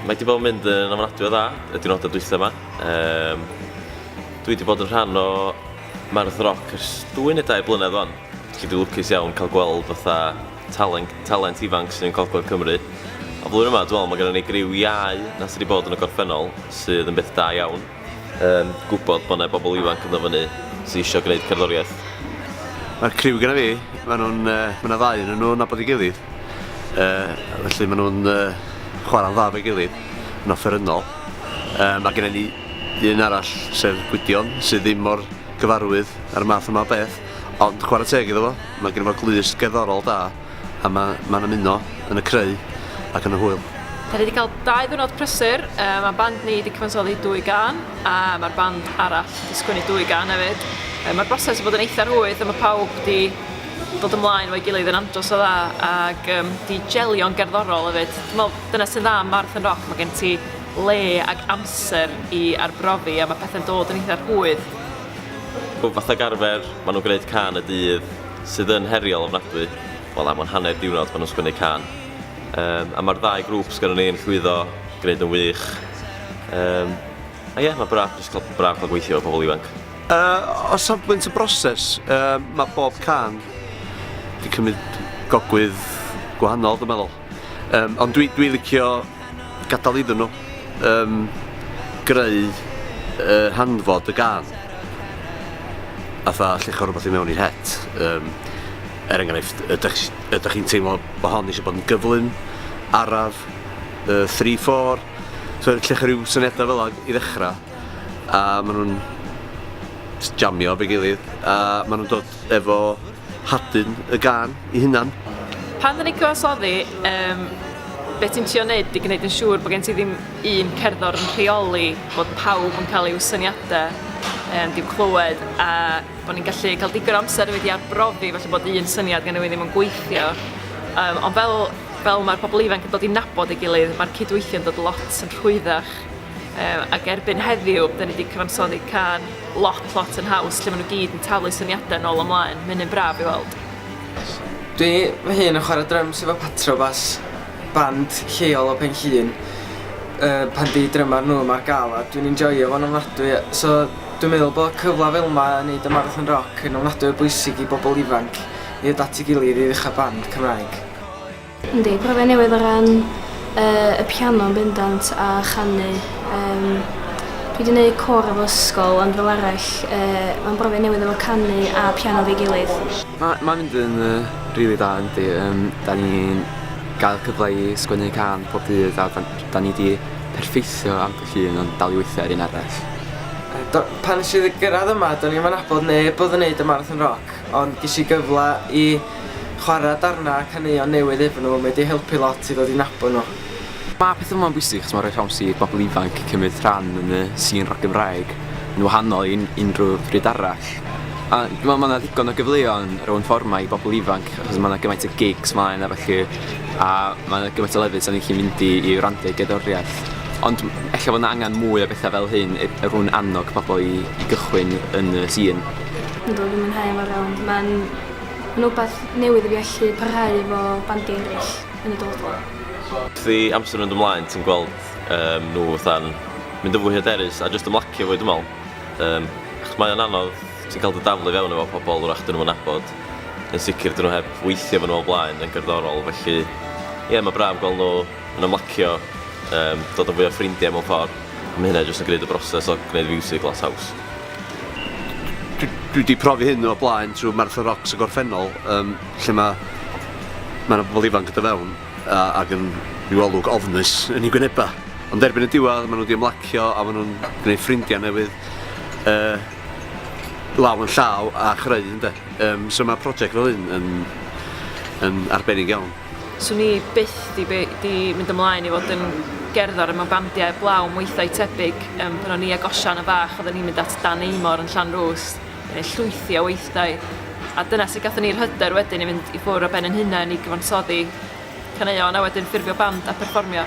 Mae wedi bod yn mynd yn ofnadwy o dda y diwrnodau dwythau yma. Um, dwi wedi bod yn rhan o Mae'r Ddroc ers dwy neu dau blynedd o'n. Felly dwi'n lwcus iawn cael gweld fatha talent, talent ifanc sydd yn Gogledd Cymru. A flwyddyn yma, dwi'n meddwl, mae gennym ni griw iau na sydd wedi bod yn y gorffennol, sydd yn beth da iawn. Um, gwybod bod yna bobl ifanc yn ddyfynu sydd eisiau gwneud cerddoriaeth. Mae'r criw gyda fi, maen nhw'n, uh, mae yna ddau yn nhw'n nabod i gilydd. Uh, felly maen nhw'n uh, chwarae'n dda fe gilydd, yn offerynnol. Uh, mae gennym ni un arall, sef Gwydion, sydd ddim mor gyfarwydd ar y math yma beth. Ond chwarae teg iddo fo, mae genno fo glust gerddorol da a mae mae'n ymuno yn y creu ac yn y hwyl. Dan ni wedi cael dau ddiwrnod prysur, mae band ni wedi cyfansoddi dwy gân a mae'r band arall wedi sgwennu dwy gân hefyd. Mae'r broses wedi bod yn eitha rhwydd a mae pawb wedi dod ymlaen efo'i gilydd yn andros o dda ac um, di jelio'n gerddorol hefyd. Dwi'n meddwl dyna sy'n dda am Marathon Rock, mae gen ti le ac amser i arbrofi a mae pethau'n dod yn eitha rhwydd. Wel fatha ag arfer ma' nw'n gneud cân y dydd sydd yn heriol ofnadwy, wel am yr hanner diwrnod ma' nw'n sgwennu cân. Yym a ma'r ddau grŵp sgynnon ni yn llwyddo gneud yn wych. Yym a ie ma' braf jyst ca'l braf ca'l gweithio efo pobol ifanc. Yy o safbwynt y broses yy ma' bob cân 'di cymyd gogwydd gwahanol dwi meddwl. Um, ond dwi, dwi licio gadael iddyn nhw um, greu uh, hanfod y gan. A tha llecho rhywbeth i mewn i'r het. Um, er enghraifft, ydych, ydych chi'n teimlo bod hon eisiau bod yn gyflym, araf, uh, 3-4. So lle chi rhyw syniadau fel ag i ddechrau. A maen nhw'n jamio fe gilydd. A maen nhw'n dod efo hadyn y gân i hunan. Pan dan ni'n cyfansoddi, um, beth ti'n trio wneud i gwneud yn siŵr bod gen ti ddim un cerddor yn rheoli bod pawb yn cael eu syniadau um, diw clywed a bod ni'n gallu cael digon amser wedi arbrofi felly bod un syniad gen i ddim yn gweithio. Um, ond fel, fel mae'r pobl ifanc yn dod i nabod ei gilydd, mae'r cydweithio'n dod lot yn rhwyddach Um, ac erbyn heddiw, da ni wedi cyfansoddi can lot, lot yn haws, lle maen nhw gyd yn talu syniadau yn ôl ymlaen. Mae'n un braf i weld. Dwi fy hun yn chwarae drums efo Patrobas, band lleol o Benllun. Uh, pan di drymar nhw yma'r gael a dwi'n enjoyio fo'n ofnadwy. So dwi'n meddwl bod cyfle fel yma yn neud y marathon rock yn ofnadwy o bwysig i bobl ifanc i ddod at ei gilydd i ddechrau band Cymraeg. Yndi, profiad newydd o ran yy y piano yn bendant a chanu yym dwi 'di neud côr efo ysgol ond fel arall yy ma'n brofiad newydd efo canu a piano efo'i gilydd. Ma' ma'n mynd yn yy rili dda yndi yym 'dan ni'n ga'l cyfle i sgwennu cân pob dydd a 'dan 'dan ni 'di perffeithio ambell un ond dal i weithio ar un arall. Yy do- pan nesh i gyrradd yma do'n i 'im yn nabod neb odd yn neud y Marathon Rock ond gesh i gyfla i Chwarae darnau a caneuon newydd efo nhw, mae 'di helpu lot i ddod i nabod nhw. Mae peth yma'n bwysig achos mae'n rhoi siawns i bobl ifanc cymryd rhan yn y sîn roc Gymraeg yn wahanol i unrhyw bryd arall. A dwi'n meddwl mae 'na ddigon o gyfleon ar y Wn Fforwm 'ma i bobl ifanc achos mae 'na gymaint o gigs mlaen a ballu a mae 'na gymaint o lefydd 'sa ni'n gallu mynd i i wrando i gerddoriaeth. Ond ella bod 'na angen mwy o bethau fel hyn e- er mwyn annog pobl i i gychwyn yn y sîn. Yndw dwi'n mwynhau e mor iawn. Ma'n Mae'n wbath newydd i fi allu parhau efo bandiau eraill yn y dyfodol. Wrth i amser fynd ymlaen ti'n gweld yym nhw fatha'n mynd yn fwy hyderus a jyst ymlacio fwy dwi'n meddwl. Yym achos mae o'n anodd, ti'n cael dy daflu i fewn efo pobl wrach dyn nhw'm yn nabod. Yn sicr dyn nhw heb weithio efo nhw o blaen yn gerddorol felly ie mae braf gweld nhw yn ymlacio, yym dod yn fwy o ffrindiau mewn ffordd a mae hynna jyst yn gwneud y broses o gwneud fiwsig lot haws. dwi wedi profi hyn o'r blaen trwy Martha Rocks y gorffennol, um, lle mae ma yna bobl ifanc gyda fewn a, ac yn rhyw olwg ofnus yn ei gwyneba. Ond erbyn y diwedd, maen nhw wedi ymlacio a maen nhw'n gwneud ffrindiau newydd uh, law yn llaw a chreu, ynddo. Um, so mae prosiect fel hyn yn, yn arbennig iawn. Swn i byth 'di by- 'di mynd ymlaen i fod yn gerddor a ma' bandiau 'eblaw yn weithdai tebyg yym pan o'n i ag Osian yn fach odden ni'n mynd at Dan Aymor yn Llanrwst neu llwythi o weithdai a dyna sut gathon ni'r hyder wedyn i fynd i ffwr' o ben 'yn hunen i gyfansoddi caneuon a wedyn ffurfio band a perfformio.